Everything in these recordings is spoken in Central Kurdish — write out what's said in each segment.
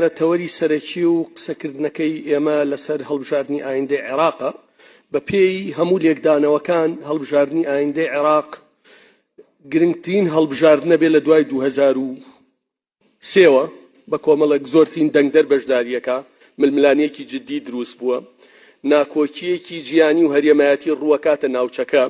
دیارە تەوەری سەرەکی و قسەکردنەکەی ئێمە لەسەر هەڵبژاردنی ئایندەی عێراقە. بە پێی هەموو لێکدانەوەکان هەڵبژاردنی ئایندەی عێراق گرنگترین هەڵبژاردنە بێ لە دوای دوو هەزار و سێ وە بە کۆمەڵێک زۆرترین دەنگدەر بەشدارییەکە ململانێکی جددی دروست بووە. ناکۆکییەکی جیهانی و هەرێمایەتی ڕووەکاتە ناوچەکە.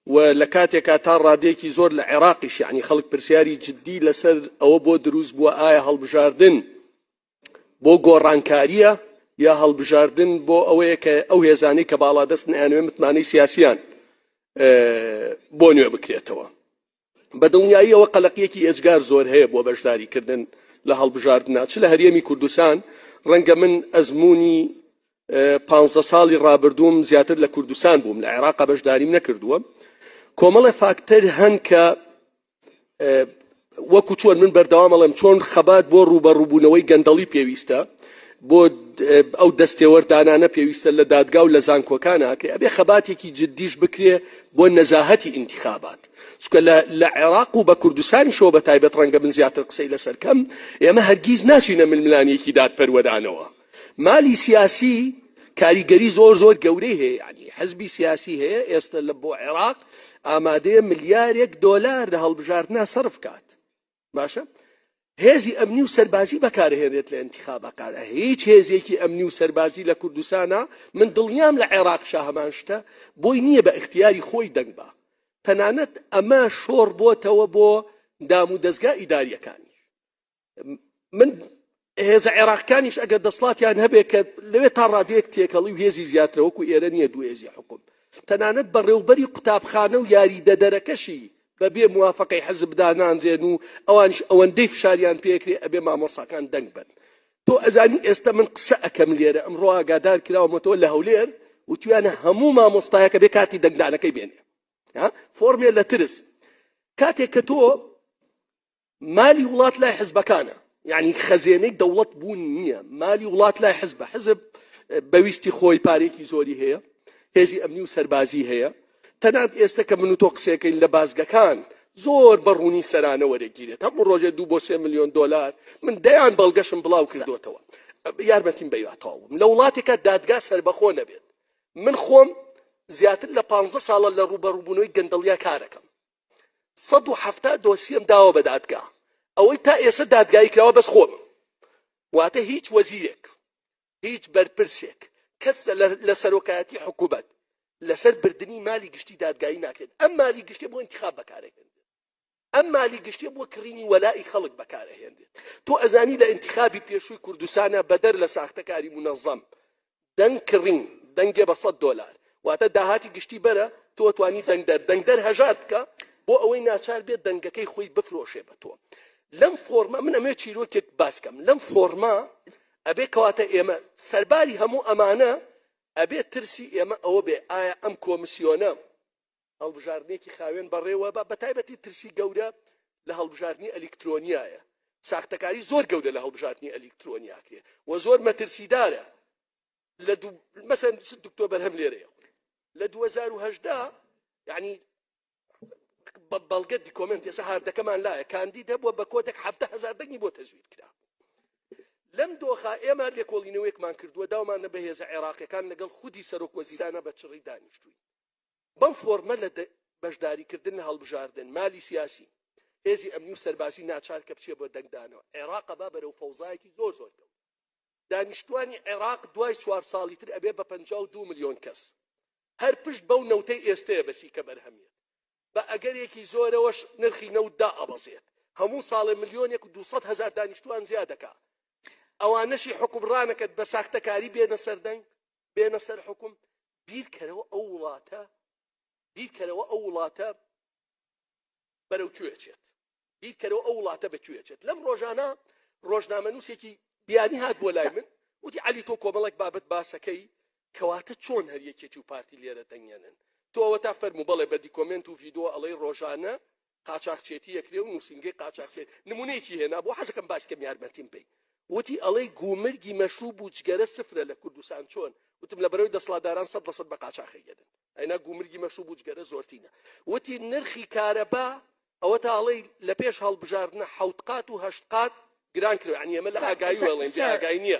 و لە کاتێکا تا ڕادەیەکی زۆر لە عێراقیش یەعنی خەڵک پرسیاری جدی لەسەر ئەوە بۆ دروست بووە ئایا هەڵبژاردن بۆ گۆڕانکارییە یا هەڵبژاردن بۆ ئەوەیە کە ئەو هێزانەی کە باڵادەست نیانوێ متمانەی سیاسیان بۆ نوێ بکرێتەوە بە دڵنیاییەوە قەلەقیەکی ئێجگار زۆر هەیە بۆ بەشداری کردن لە هەڵبژاردنا چ لە هەرێمی کوردستان ڕەنگە من ئەزمموی پ ساڵی ڕابردووم زیاتر لە کوردستان بووم لە عێراق بەشداریم نەکردووە کۆمەڵە فاکتەر هەن کە وەکو چۆن من بەردەوامەڵێم چۆن خەبات بۆ ڕووبە ڕووبوونەوەی گەندەڵی پێویستە بۆ ئەو دەستێوەردانانە پێویستە لە دادگا و لە زانکۆکان هاکرێ ئەبێ خەباتێکی جددیش بکرێ بۆ نەزاهەتی ئینتخابات چونکە لە لە عێراق و بە کوردستانیشەوە بە تایبەت ڕەنگە من زیاتر قسەی لەسەر کەم ئێمە هەرگیز ناچینە ململانیەکی دادپەروەرانەوە مالی سیاسی کاریگەری زۆر زۆر گەورەی هەیە یعنی حزبی سیاسی هەیە ئێستا لە بۆ عێراق ئامادەیە ملیارێک دۆلار لە هەڵبژاردنا سەرف کات باشە هێزی ئەمنی و سەربازی بەکارهێنێت لە انتخابەکانە هیچ هێزێکی ئەمنی و سەربازی لە کوردستانە من دڵنیام لە عێراق شاهمان شتە بۆی نییە بە اختیاری خۆی دەنگ بە تەنانەت ئەمە شۆڕ بۆتەوە بۆ دام و دەستگا ئیداریەکانی من هێزە عێراقکانیش ئەگەر دەسڵاتیان هەبێت کە لەوێ تا ڕادەیەک تێکەڵی و هێزی زیاترە وەکو ئێرە نییە دوو هێزی حکوم تەنانەت بەڕێوبەری قوتابخانە و یاریدەدەرەکەشی بەبێ موافقەی حزب دانانرێن و ئەوانش ئەوەندەی فشاریان پێکرێ ئەبێ مامۆساکان دەنگ بن تۆ ئەزانی ئێستا من قسە ئەەکەم لێرە ئەمڕۆ ئاگادار کراومەتەوە لە هەولێر وتویانە هەموو مامۆستایەکە بێ کاتی دەنگدانەکەی بێنێ فۆرمێ لە ترس کاتێک کە تۆ مالی وڵات لای حزبەکانە یعنی خەزێنەی دەوڵەت بوون نییە مالی وڵات لای حزبە حزب بەویستی خۆی پارێکی زۆری هەیە هێزی ئەمنی و سەربازی هەیە تەنات ئێستا کە من و تۆ قسەکەین لە بازگەکان زۆر بەڕوونی سەرانە وەرەگیرێت هەموو ڕۆژێ دوو بۆ سێ میلیۆن دلار من دەیان بەڵگەشم بڵاو کردوتەوە یارمەتیم بەیاتەوەم لە وڵاتێکە دادگا سربەخۆ نەبێت من خۆم زیاتر لە پ ساڵە لە ڕوبەڕوبوونەوەی گەندەڵیا کارەکەم سەد و حەفتا دۆسیەم داوە بە دادگا ئەوەی تا ئێستا دادگایی کراوە بەس خۆم واتە هیچ وەزیرێک هیچ بەرپرسێک کەس لە سەرۆکایەتی حکوومەت لەسەر بردننی مالی گشتی دادگایی ناکرێت ئەم مالی گشتی بۆ انتخاب بەکارێکن ئەم مالی گشتێ بۆ کڕینی وەلائی خەڵک بەکارەهێنێت تۆ ئەزانی لە انتخابی پێشووی کوردستانە بەدەر لە ساختەکاری منەظەم دەنگ کڕین دەنگێ بە سەد دۆلار واتە داهاتی گشتی بەرە تۆ توانی دەنگدەر دەنگدەر هەژار بکە بۆ ئەوەی ناچار بێت دەنگەکەی خۆی بفرۆشێ بە تۆ لەم فۆرمە من ئەمێ چیرۆکێک باسکەم لەم فۆرمە ئەبێ کەواتە ئێمە سەرباری هەموو ئەمانە ئەبێ ترسی ئێمە ئەوە بێ ئایا ئەم کۆمسیۆنە هەڵبژاردنێکی خاوێن بەڕێوەبە، بەتایبەتی ترسی گەورە لە هەڵبژاردنی ئەلیکترۆنیایە، ساختەکاری زۆر گەورە لە هەڵبژاردنی ئەلیکترۆنی ئەکرێت و زۆر مەترسیدارە لە دو... مەسەن دکتۆر بەرهەم لێرەیە لە 2018 یعنی بەڵگە دیکۆمنت ێسە هاردەکەمان لایە کاندید هەبووە بە کۆدەک هەفتە هزار دەنگی بۆ تەزویر کرا لەم دۆخە ئێمە لێکۆڵینەوەیەکمان کردووە داومانە بە هێزە عێراقیەکان لەگەڵ خودی سەرۆک وەزیرانە بە چڕی دانیشتوین بەو فۆرمە لە بەشداریکردن لە هەڵبژاردن، مالی سیاسی، هێزی ئەمنی و سەربازی ناچار کە بچێ بۆ دەنگدانەوە. عێراق با بەرەو فەوزایەکی زۆر زۆر کەوت. دانیشتوانی عێراق دوای چوار ساڵی تر ئەبێ بە پەنجا و دوو ملیۆن کەس. هەر پشت بەو نەوتەی ئێستەیە بەسی کە بەرهەم یەت. بە ئەگەرێکی زۆرەوەش نرخی نەوت دائەبەزێت. هەموو ساڵێ ملیۆنێک و دوو سەد هەزار دانیشتوان زیا دەکا. ئەوانەشی حوکمڕانەکەت بە ساختەکاری بێنە سەر دەنگ، بێنە سەر حوکم. بیرکەرەوە ئەو وڵاتە بیرکەرەوە ئەو وڵاتە بەرەو کوێ چێت بیرکەرەوە ئەو وڵاتە بە کوێ چێت لەم ڕۆژانە ڕۆژنامە نووسێکی بیانی هات بۆ لای من وتی علی تۆ کۆمەڵک بابەت باسەکەی کەواتە چۆن هەر یەکێتی و پارتی لێرە دەنگێنن تۆ ئەوە تا فەرمو بەڵێ بە دیکۆمنت و ڤیددیو ئەڵەی ڕۆژانە قاچاخچێتی ئەکرێ و نووسینگەی قاچاخچێ نمونەیەکی هێنا بۆ حەزەکەم باس کەم یارمەتیم بەی وتی ئەڵێی گومرگی مەشروب و جگەرە سفرە لە کوردستان چۆن وتم لە بەرەوەی دەسڵاتداران سەد لە سەد بە قاچاخەیەن ئەینا گومرگی مەشروب و جگەرە زۆرتینە وتی نرخی کارەبا ئەوە تا ئەڵێی لە پێش هەڵبژاردنە حەوت قات و هەشت قات گران کرد عنی ئێمە لە ئاگایی وەڵێن ئاگای نییە